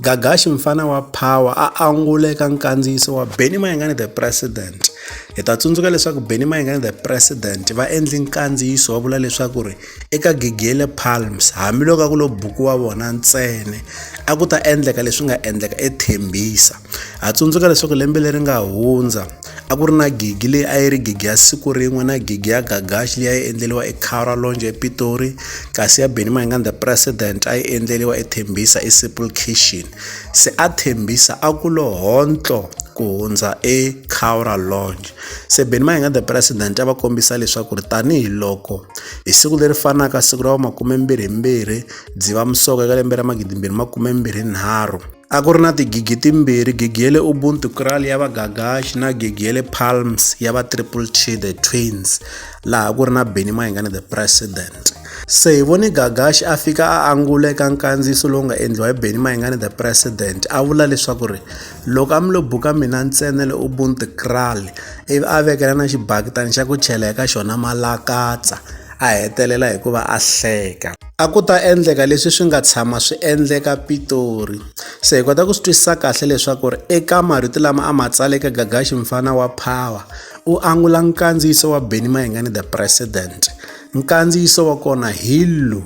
Gagashi mfana wa Power a angula eka nkandziyiso wa Benny Mayengani The President. Hi ta tsundzuka leswaku Benny Mayengani The President va endle nkandziyiso wa vula leswaku ri eka gigi ya le Palms hambiloko a ku lo buku wa vona ntsena a ku ta endleka leswi nga endleka eThembisa. Ha tsundzuka leswaku lembe leri nga hundza a ku ri na gigi leyi a yi ri gigi ya siku rin'we na gigi ya gagaxi leyi a yi endleriwa ekhara lonje epitori kasi ya benny mahinga the president a yi endleriwa ethembisa esimple kitchen se a thembisa a ku lo hontlo ku hundza ekhawra longe se benny mahinga the president a va kombisa leswaku ri tanihiloko hi siku leri fanaka siku ra va makume mbirhi mbirhi dziva musoko eka lembe ra magidi mbirhi makume mbirhi nharhu A ku ri na tigigi timbirhi, gigi ya le Ubuntu Kraal ya vagagaxi na gigi ya le Palms ya va Triple T The Twins, laha ku ri na Benny Mayengani The President. Se hi vone Gagaxi a fika a angula eka nkandziyiso lowu nga endliwa hi Benny Mayengani The President, a vula leswaku ri loko a mi lo buka mina ntsena le Ubuntu Kraal, ivi a vekela na xibakitana xa ku chela eka xona malakatsa, a hetelela hikuva a hleka. A ku ta endleka leswi swi nga tshama swi endleka Pitori. Se hi kota ku swi twisisa kahle leswaku ri eka marito lama a ma tsala eka Gagashi mfana wa Power, u angula nkandziyiso wa Benny Mayengani the President. Nkandziyiso wa kona hi lu.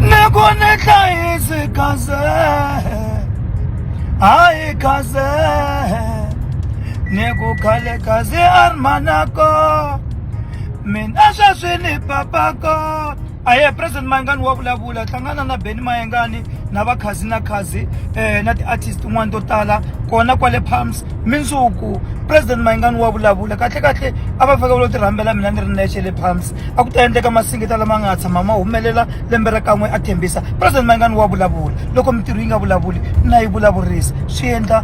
Ni ku ni hlayisi kaze, hayi kaze, ni ku khale kaze a ri manako. mina sweswi ni papako a ye president mayengani wa vulavula hlangana na beni mayengani na vakhazi na khazi um na ti-artist tin'wani to tala kona kwale palms mindzuku president mayengani wa vulavula kahle kahle a va fake vulo ti rhambela mina ni ri nexe le palms a ku ta endleka masingita lama nga tshama ma humelela lembe ra kan'we a thembisa president mayengani wa vulavula loko mintirho yi nga vulavuli na yi vulavurisa swi endla